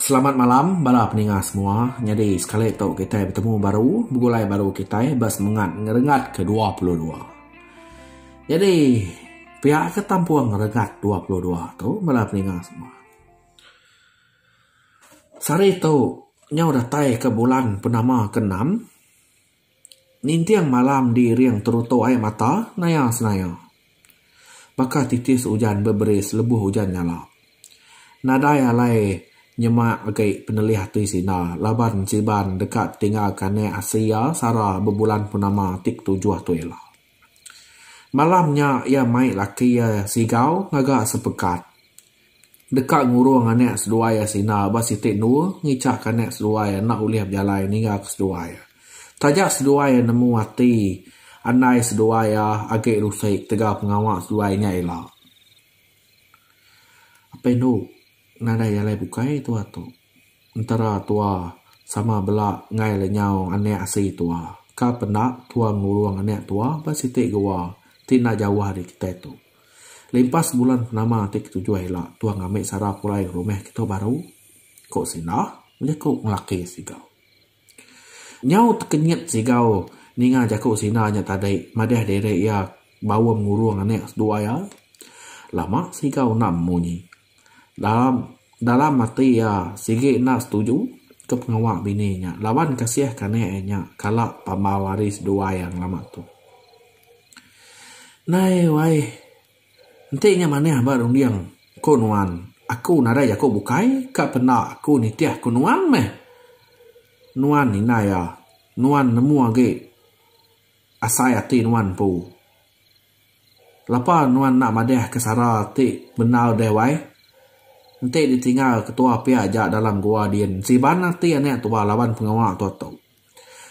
Selamat malam bala peninga semua nyadi sekali tu kitai betemu baru begulai baru kitai ba semengat ngerengat ke dua puluh dua nyadi pia ke tampung ngerengat dua puluh dua tu bala peninga semua sehari tu nyau datai ke bulan purnama ke enam. Ninting malam di iring terutuk ai mata naya senaya. Baka titis ujan beberis lebuh ujan nyala. Nadai alai nyema agi penelih ati sida laban Siban deka tinggalka anak asi iya Sara bebulan purnama ti ketujuh tu ila. Malam nya iya mai laki iya Sigau ngaga sepekat deka ngurung anak seduai iya Sina ba siti endur ngichak ke anak seduai iya enda ulih bejalai ninga ke seduai iya. Taja seduai iya nemu ati andai seduai iya agi rusik tegal pengawa seduai nya ila. Apai endu. Nadai alai bukai tua tu. Entara tua sama bela enggai le nyau anak asi tua. Ka penda tua ngurung anak tua ba siti goa ti enda jauh ari kitai tu. Limpas bulan penama ti ketujuh ila tua ngambi sara pulai ke rumah kitu baru? ku Sindah bejaku ngelaki Sigau. Nyau tekenyit Sigau ninga jaku Sindah nya tadi madah diri iya baum ngurung anak dua iya. Lama Sigau enda munyi. Dalam ati iya, sigi enda setuju ke pengawa bini nya laban kasih kanek iya nya kala pambau hari seduai iya ngelama tu. Nai wai, enti nya manah ba runding ku nuan, aku nadai jaku bukai ka penda aku nitih ku nuan meh. Nuan indai iya, nuan nemu agi asai ati nuan empu. Lapa nuan enda madah ke sara ti bendar deh wai. Enti ditinggal ketua pia aja dalam gua din siban ati anak tua laban pengawa tua tu.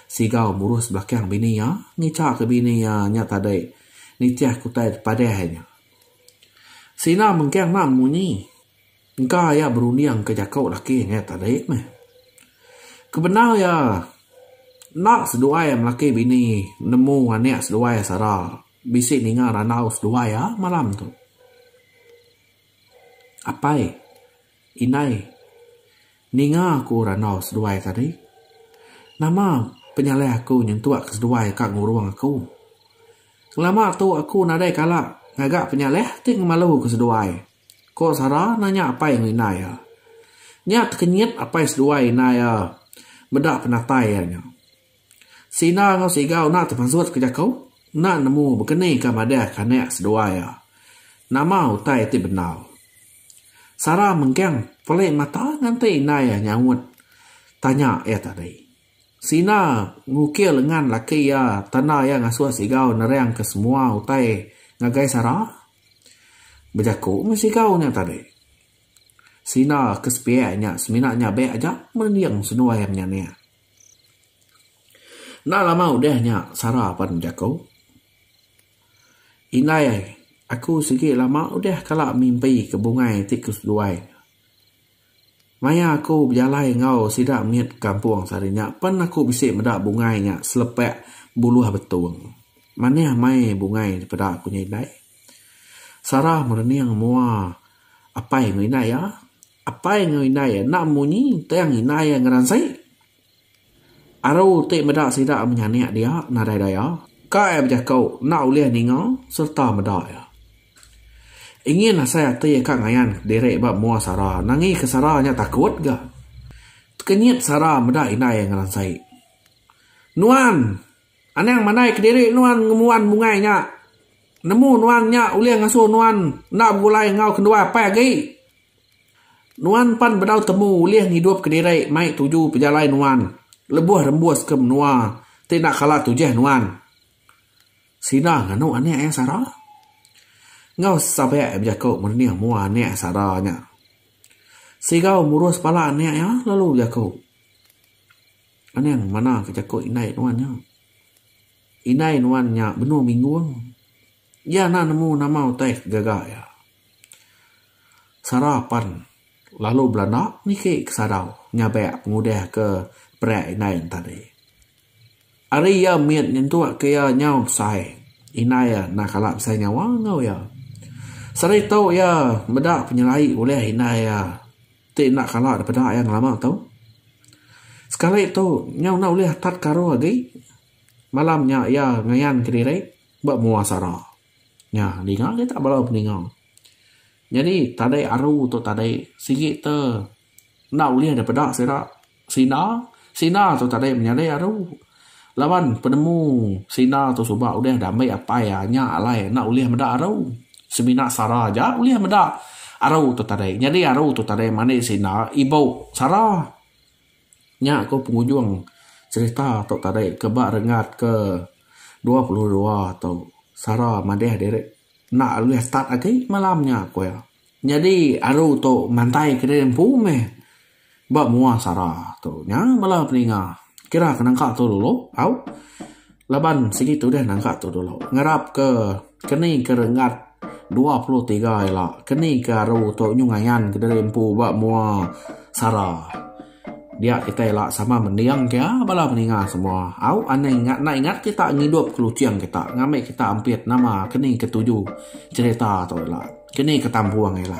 Sigau murus belakang bini iya ngicha ke bini iya nya tadi nitih ke utai padah iya nya. Sina mengkang enda munyi. Engka iya berunding ke jaku laki ngai tadi meh. Kebendar iya, enda seduai melaki bini nemu anak seduai sara bisi ninga randau seduai iya malam tu. Apai, indai, ninga aku randau seduai tadi. Nama penyalai aku nyentuk ke seduai ka ngurung aku. Ngelama tu aku nadai kala ngaga penyalai ti ngemalu ke seduai. Ko Sara nanya apai enggau indai iya. Nya tekenyit apai seduai indai iya meda penatai iya nya. Sina enggau Siga unak temasut ke jaku enda nemu bekeni ka madah ke anak seduai iya. Nama utai ti bendar. Sara mengkang pelik mata nganti indai iya nyaut tanya iya tadi. Sina ngukir lengan laki iya tanda iya ngasut Siga nerang ke semua utai ngagai Sara. Bejaku meh sigau nya tadi. Sina ke sepiak nya semina nyabek aja mending seduai am nya nia. Enda lama udah nya Sara pan bejaku. Indai ai, aku sigi lama udah kala mimpi ke bungai ti ke seduai. Maya aku bejalai enggau sida mit kampung sehari nya pen aku bisi meda bungai nya selepak buluh betung. Manah mai bungai ti peda aku nya indai. Sarah merening mua apai enggau indai iya. Apai enggau indai iya enda munyi tang indai iya ngeransai. Aru ti meda sida menyanik dia nadai daya kai bejako enda ulih ninga sereta meda iya. Ingin asai ati ka ngayan diri ba mua sara nangi ke sara nya takut ga. Tekenyit sara meda indai ngeransai. Nuan! Anang mandai kediri nuan ngembuan bungai nya. Nemu nuan nya ulih ngasuh nuan enda begulai enggau kendua apai agi. Nuan pan bedau temu ulih ngidup kediri mai tuju pejalai nuan lebuh rembus ke menua ti enda kala tujih nuan. Sida nganu anak iya sara. Enggau sape bejaku merenih mua anak sara nya. Sigau murus pala anak iya lalu bejaku. Anang manah ke jaku indai nuan nya. Indai nuan nya benung minggung. Iya enda nemu nama utai ke gaga iya. Sara pan lalu belanda niki ke sadau nyabek pengudah ke perak indai nya tadi. Ari iya mit nyentuk ke iya nyau besai, indai iya enda kala besai nyawa enggau iya. Seritu iya meda penyelai ulih indai iya ti enda kala dipeda iya ngelama tu. Sekali tu nyau enda ulih atat karu agi. Malam nya iya ngayanka diri. Ba mua sara. Nya ninga kitak bala peninga. Nyadi tadai aru tu tadai sigi te enda ulih deh peda sira sida. Sida tu tadai menyadai aru laban penemu sida tu suba udah diambi apai iya nya alai enda ulih meda aru. Semina sara aja ulih meda aru tu tadai. Nyadi aru tu tadai mani sida ibu sara. Nya ko pengujung cherita tok tadi ke ba renggat ke dua puluh dua tu. Sara madeh diri enda ulih start agi malam nya ko iya. Nyadi aru tu mantai ke diri empu meh ba mua sara tu. Nya bala peninga kira ke nangka tu dulu au. Laban sigi tudah naga tu dulu ngarap ke keni ke renggat dua puluh tiga ila keni ke aru tu nyu ngayan kediri empu ba mua sara. Dia kitai ila sama mending ke bala meninga semua au anai enda ingat kita ngidup ke luching kita ngambi kita ampit nama keni ke tuju cherita tu ila keni ke tampung ila.